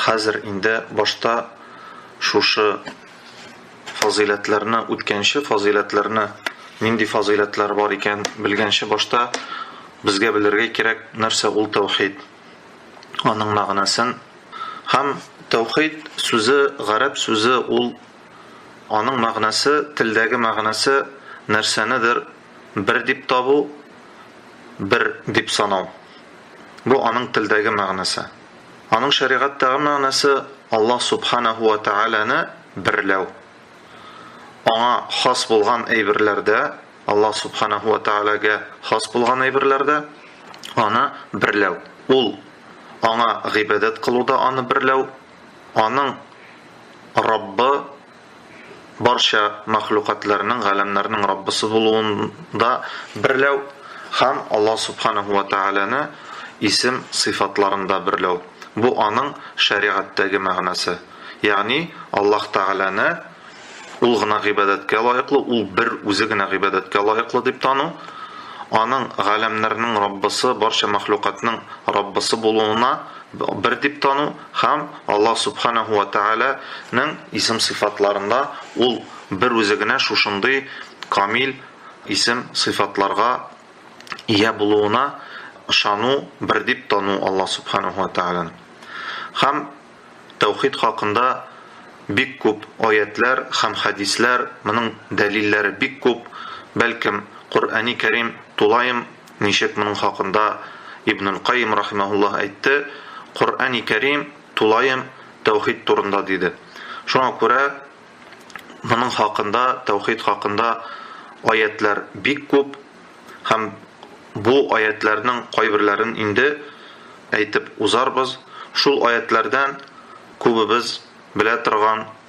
Хәзер инде башта шушы фазыйләтләрне, үткәнче фазыйләтләрне, нинди фазыйләтләр бар икән, белгәнче башта безгә белергә кирәк, нәрсә ул тәүхид, аның мәгънәсен. Һәм тәүхид сүзе, гарәп сүзе ул, аның мәгънәсе, телдәге мәгънәсе, нәрсәнедер бер дип табу, бер дип санау. Бу аның телдәге мәгънәсе. Аның шәригатьтәге мәгънәсе Аллаһ Субханәһу вә Тәгаләне берләү. Аңа хас булган әйберләрдә, Аллаһ Субханәһу вә Тәгаләгә хас булган әйберләрдә аны берләү. Ул аңа гыйбадәт кылуда аны берләү, аның Раббы барча мәхлукатларның, галәмнәрнең Раббысы булуында берләү һәм Аллаһ Субханаһу ва Тәгаләне исем, сыйфатларында берләү. Бу аның шәригатьтәге мәгънәсе. Ягъни Аллаһ Тәгаләне Ул гына гыйбадәткә лаеклы, Ул бер Үзе генә гыйбадәткә лаеклы дип тану, Аның галәмнәрнең Раббысы, барча мәхлукатның Раббысы булуына бер дип тану, Һәм Аллаһ Сүбхәнәһү вә Тәгалә нең исем-сыйфатларында Ул бер Үзе генә шушындый камил исем-сыйфатларга ия булуына ышану, бер дип тану Аллаһ Сүбхәнәһү вә Тәгаләне. Һәм тәүхид хакында бик күп аятьләр һәм хәдисләр, моның дәлилләре бик күп, бәлкем, Коръәни Кәрим тулаем Ничек моның хакында Ибнул Каим рахимаһуллаһ әйтте, Коръәни Кәрим тулаем тәүхид турында диде. Шуңа күрә моның хакында, тәүхид хакында аятьләр бик күп һәм бу аятьләрнең кайберләрен инде әйтеп узарбыз. Шул аятьләрдән күбебез белә торган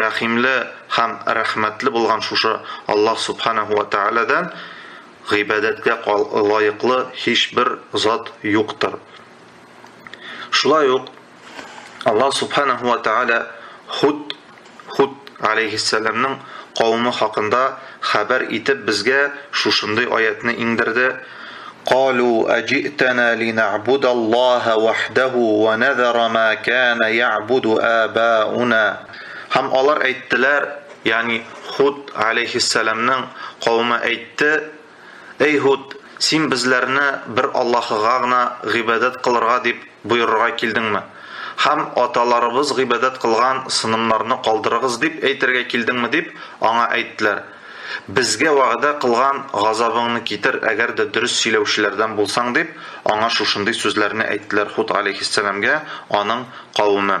Рәхимле һәм рәхмәтле булган шушы Аллаһ Сүбхәнәһү вә Тәгаләдән гыйбадәткә лаеклы һичбер зат юктыр. Шулай ук Аллаһ Сүбхәнәһү вә Тәгалә Худ Худ галәйһиссәламның кавымы хакында Хәбәр итеп безгә шушындый аятьне иңдерде, Калу әҗи'тәнә линә'будәллаһа вәхдәһу вә нәзәра мә кәнә я'буду әбә'уна. Һәм алар әйттеләр, ягъни Һуд галәйһиссәламнең кавеме әйтте, Әй Һуд, син безләрне бер Аллаһыга гына гыйбадәт кылырга дип боерырга килдеңме? Һәм аталарыбыз гыйбадәт кылган сынымнарны калдырыгыз дип әйтергә килдеңме? дип, аңа әйттеләр. Безгә вәгъдә кылган газабыңны китер, әгәр дә дөрес сөйләүчеләрдән булсаң, дип, аңа шушындый сүзләрне әйттеләр Худ галәйһиссәламгә аның кавеме.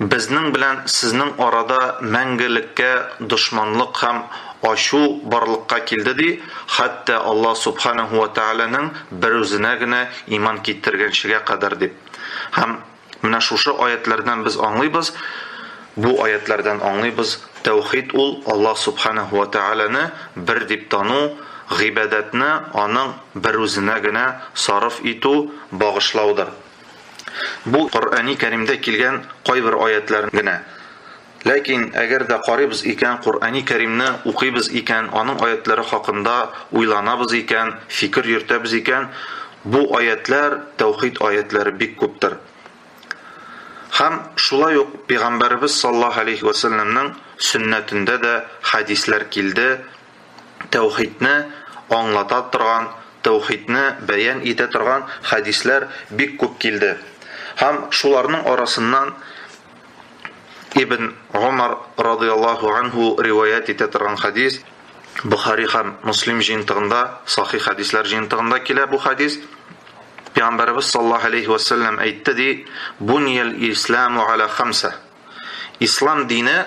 Безнең белән сезнең арада мәңгелеккә дошманлык һәм ачу барлыкка килде, ди, хәтта Аллаһ Субханәһү вә Тәгаләнең берүзенә генә иман китергәнчегә кадәр, дип. Һәм менә шушы аятьләрдән без аңлыйбыз, бу аятьләрдән аңлыйбыз, тәүхид ул, Аллаһ Субханәһү вә Тәгаләне бер дип тану, гыйбадәтне аның берүзенә генә сарыф итү, багышлаудыр. Бу Коръәни Кәримдә килгән кайбер аятьләр генә. Ләкин әгәр дә карыйбыз икән, Коръәни Кәримне укыйбыз икән, аның аятьләре хакында уйланабыз икән, фикер йөртәбез икән, бу аятьләр, тәүхид аятьләре бик күптер. Һәм шулай ук Пигамбәребез саллаһу алейһи вә сәлләмнең сөннәтендә дә хәдисләр килде, тәүхидне аңлата торган, тәүхидне бәян итә торган хәдисләр бик күп килде. Һәм шуларның арасыннан Ибн Гомар радыяллаһу анһу риваять итә торган хәдис, Бухари һәм Муслим җыентыгында, сахих хәдисләр җыентыгында килә бу хәдис. Пәйгамбәребез саллаллаһу алейһи ва сәлләм әйтте ди, Буниял исламу аля хамса. Ислам дине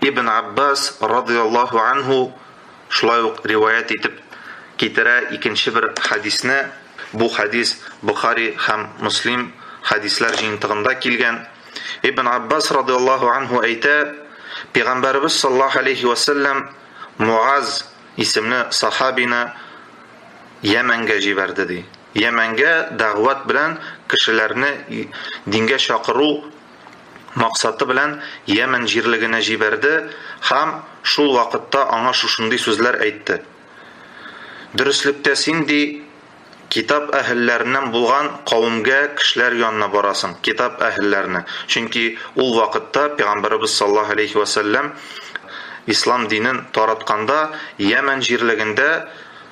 Ибн Аббас радыйаллаһу анһу шулай ук риваять итеп китерә икенче бер хәдисне, бу хәдис Бохари һәм Муслим хәдисләр җыентыгында килгән. Ибн Аббас радыйаллаһу анһу әйтә, Пәйгамбәребез саллаллаһу алейһи вә сәлләм Муаз исемле сахабины Йәмәнгә җибәрде, ди. Йәмәнгә дәгъват белән кешеләрне дингә чакыру, максаты белән Йәмән җирлегенә җибәрде һәм шул вакытта аңа шушындый сүзләр әйтте, Дөреслектә син, ди, китап әһелләреннән булган кавемгә, кешеләр янына барасың, китап әһелләренә, чөнки ул вакытта пәйгамбәребез саллаллаһу галәйһи вә сәлләм ислам динен таратканда Йәмән җирлегендә,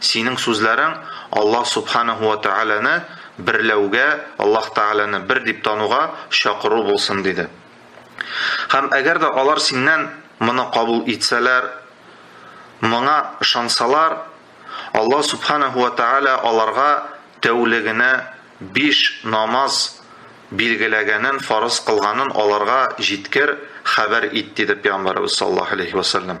Синең сүзләрең Аллаһ Субханаһу ва Тәгаләне берләүгә, Аллаһ Тәгаләне бер дип тануга чакыру булсын, диде. Һәм әгәр дә алар синнән моны кабул итсәләр, моңа ышансалар, Аллаһ Субханаһу ва Тәгалә аларга тәүлегенә биш намаз билгеләгәнен, фарыз кылганын аларга җиткер, хәбәр ит, диде Пәйгамбәребез саллаллаһу галәйһи вә сәлләм.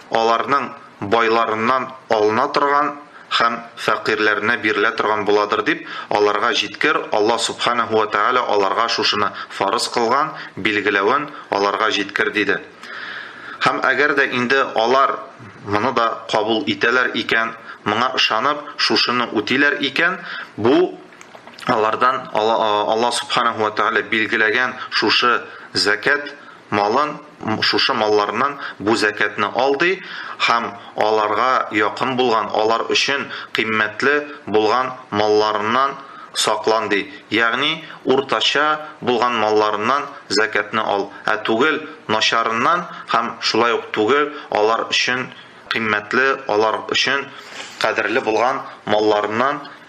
аларның байларыннан алына торган һәм фәкыйрьләренә бирелә торган буладыр дип, аларга җиткер, Аллаһ Субханаһу вә Тәгалә аларга шушыны фарыз кылган, билгеләвен аларга җиткер, диде. Һәм әгәр дә инде алар моны да кабул итәләр икән, моңа ышанып, шушыны үтиләр икән, бу алардан Аллаһ Субханаһу вә Тәгалә билгеләгән шушы зәкят, малын, шушы малларыннан бу зәкятне ал, ди, һәм аларга якын булган, алар өчен кыйммәтле булган малларыннан саклан, ди, ягъни уртача булган малларыннан зәкятне ал, ә түгел начарыннан һәм шулай ук түгел алар өчен кыйммәтле, алар өчен кадерле булган малларыннан.